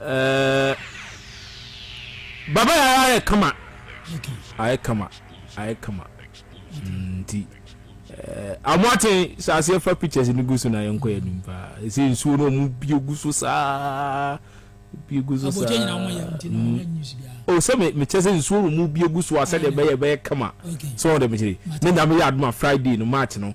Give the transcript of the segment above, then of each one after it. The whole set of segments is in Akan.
Eh, baba yɛ ara ayɛ kama ayɛ kama ayɛ kama mm, nti eh, ɔmo aten sɛ aseɛ fa pictures no gu so na yɛnkɔ yɛ anim paa ɛsɛ nsuo no ɔmo bie gu so saa bie gu so saa o oh, sɛ mekyɛ sɛ nsuo no ɔmo bie gu so a sɛdeɛ bɛyɛ bɛyɛ kama sɛ ɔde mekyere ne nyame yɛ adoma friday no march no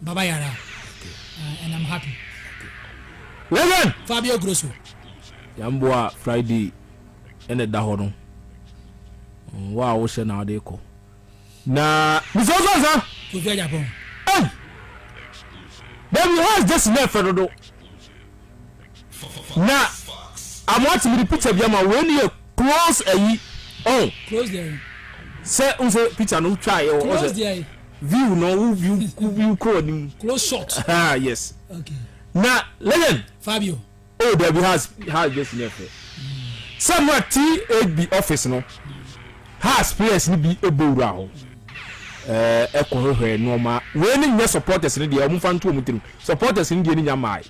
Baba yara and I'm happy. Reverend. Fabio Grosso. Yɛmboa Friday ɛna ɛda hɔ no. Wo a wohyɛ na wode kɔ. Na bisa so ansa. Kofi Ajapon. Hey. Then he has this near Fernando. Na amoa te mede picture bi ama wo wei no yɛ close ayi oh close deɛ sɛ n sɛ picture no wotwa yɛ wɔ close deɛ view no wo view wo view kɔ anim close shot ah yes okay na legend Fabio oh dabi has has just ne fɛ sɛ mo a THB office no has players no bi ɛbɔ wura hɔ ɛkɔ hwehwɛ nneɛma wei no nyɛ supporters no deɛ wɔn fa nto wɔn tirim supporters no deɛ no nya maae.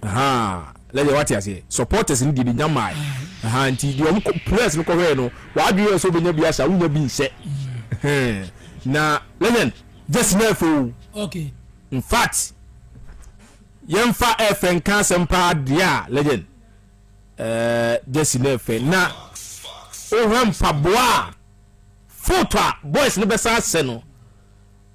Ahaa, na deɛ wate aseɛ, supporters no deɛ bɛnya mmae. Ahaa, nti deɛ wɔn players no kɔhwɛɛ no, wɔadwene yɛ sɛ wobɛnya bi ahyɛ a, wonya bi nhyɛ. Na legend, Jesse no ɛfɛ o. Okay. In fact, yɛmfa ɛfɛ nka asɛm paa deɛ a legend. Eh, Jesse no ɛfɛ. Na wohwɛ mpaboa a, foto a boys no bɛsa ahyɛ no,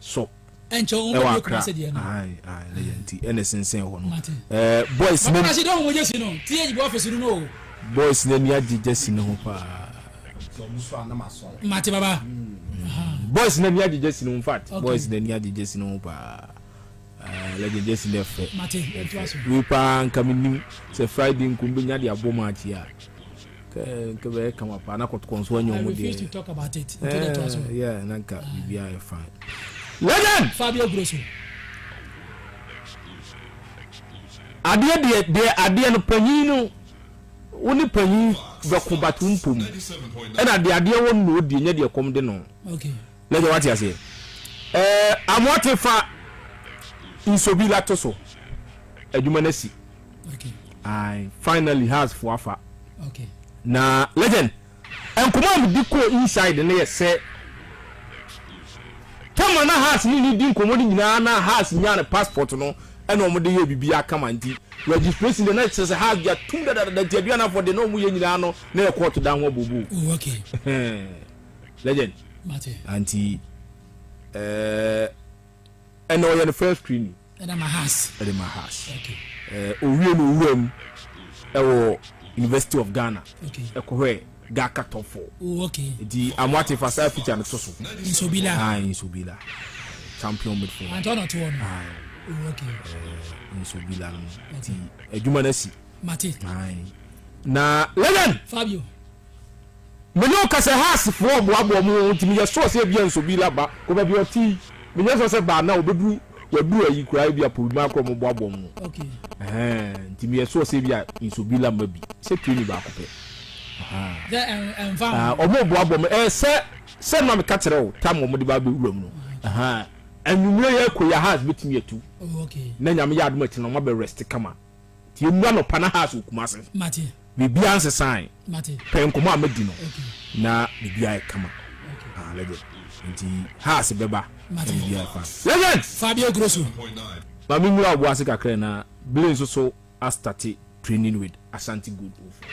so ɛwɔ akra ne yɛ nti ɛna sensɛn hɔ no ɛɛ boys ne boys ne ni agye gyesi ne ho paa mate baba hmm. boys ne ni agye gyesi ne ho fat boys ne ni agye gyesi ne ho paa Ah legend Jesse na ɛfɛ. Mate, ɛtoa so. Wei paa nka menim sɛ Friday nko mbɛnya de abɔ match yi a. Kɛ nka bɛyɛ kama paa na kɔtokɔ nso anyɛ ɔmo deɛ. I refuse to talk about it. Nti na ɛtoa so. Eh, yeah, na nka biribiara yɛ fine. Legend! Fabio Grosso. Adeɛ deɛ deɛ adeɛ no panyin no wo ne panyin bɛko but wo mpom ɛna deɛ adeɛ wɔ no na ɔdie nyɛ deɛ kɔm de no. Okay. Mɛ sɛ wate aseɛ. Ɛɛ Amoate fa nsuo bi la to so. Adwuma no asi. Okay. Aye, finally has fo afa. Okay. Na legend, nkɔmɔ a medi kɔɔ inside no yɛ sɛ tama na has ne ne di nkɔmɔ no nyinaa na has nyaa ne passport no ɛna wɔn de yɛ bibi akama nti registration de na kyerɛ sɛ has de atum dadadada nti aduanafoɔ de na wɔn yɛ nyinaa no na yɛ court dan ho abobo. Oh, okay. legend anti ɛnna ɔyɛ ne first screening ɛde ma has ɛde ma has owie no owura mu ɛwɔ university of ghana ɛkɔhwɛ gaka top four nti amoate fa saa picture no to so nsobila ah nsobila champion midfield anti ɔna to ɔno ah okay nsobila no nti adwuma no asi mate na legend fabio Me ne wo ka sɛ Haas foɔ boaboa ɔmo ho nti meyɛ sure sɛ ebia Nsobila ba kɔ baabi a ɔte yi meyɛ sure sɛ ba na ɔbɛduru waduru ayi koraa ebia Porima koraa ɔmo boaboa ɔmo ho ɛhɛɛn nti meyɛ sure sɛ ebia Nsobila mma bi sɛ training baako pɛ ɛhɛɛn ɔmo boaboa ɔmo ɛɛ sɛ sɛ ma meka kyerɛ wo tam ɔmo de ba abɛ wuram no ɛhɛɛn anwumerɛ yɛ kɔ yi a Haas bɛtumi atu na nyame yɛ adom akyiri no ɔmo abɛ rest kama. Nti yɛmmua anɔpa na house wɔ Kumasi. Mate. Biribiara nsesae. Mate. Pɛ nkɔmmɔ a madi no. Okay. Na biribiara yɛ kama. Okay. Ah, legend. Nti house bɛba. Mate. Na biribiara fa. Legend! Fabio Grosso. Ma me nwura wo bo ase kakra na Blay nso so astate training with Ashanti Gold Ofo.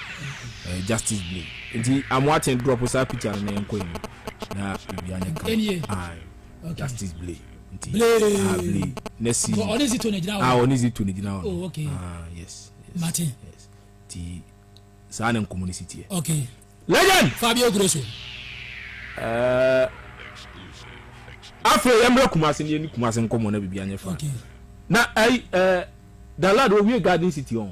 Eh, Justice Blay. Nti Amoaten drop saa picture no na yɛnkɔ anim na biribiara nyɛ kama. Ɛnie. Aye. Okay. Justice Blay. nti ahavli ne si a ɔne zi to ne gyina hɔ ɔne zi to ne gyina hɔ oh, okay. ah, yes, yes, mate yes. nti saa ne nkɔmmɔ no si teɛ okay. legend fabio grosso uh, afei yɛmmerɛ kumase ne yɛne kumase nkɔmmɔ na biribi anyɛ fa okay. na ai uh, dalad owie garden city ɔn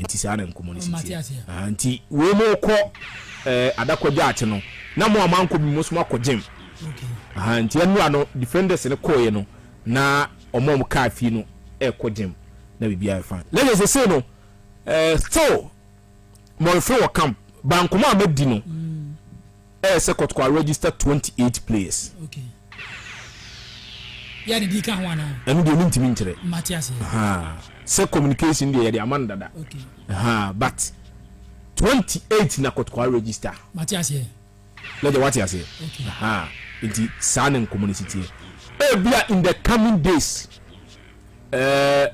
Nti saa na nkɔmmɔ no si teɛ. Ahaa nti wei morekɔ ɛɛ Adakwagyate no na mo a moankɔ bi mo nso moakɔ gyem. Ahaa nti ɛnora no defenders no kɔeɛ no na wɔn a wɔkaa fie no ɛrekɔ gyem na biribiara yɛ fine. Na kyerɛ seesei no ɛɛ still Mɔrefe wɔ camp. Bankoma a madi no. Ɛyɛ sɛ Kɔtɔkɔ a register twenty eight players. Okay. Yɛ de di ka ho anaa? Ɛno deɛ mentumi nkyerɛ. Mate aseɛ. Ahaa. Sɛ communication deɛ yɛde ama no dada. Okay. Ahaa but twenty eight na Kɔtɔkɔ a register. Mate aseɛ. Lɛgya wate aseɛ. Okay. Ahaa. Nti saa ne nkɔmmɔ no si teɛ. Ebia in the coming days. Ɛɛ,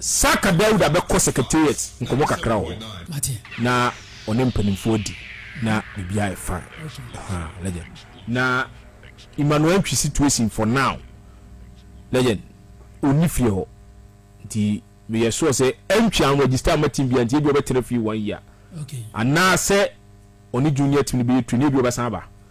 Saka Dawuda bɛkɔ secretariat nkɔmmɔ kakra wɔ hɔ na ɔne mpanimfoɔ adi na biribiara ayɛ fine. Ɛhaa, legend. Na Emmanuel Antwi situation for now, legend, ɔnni fie hɔ nti meyɛ sure sɛ Antwi anregister amma team biara nti ebia ɔbɛtena fie one year. Anaasɛ ɔne junior team no bɛyɛ train na ebia ɔbɛsan aba.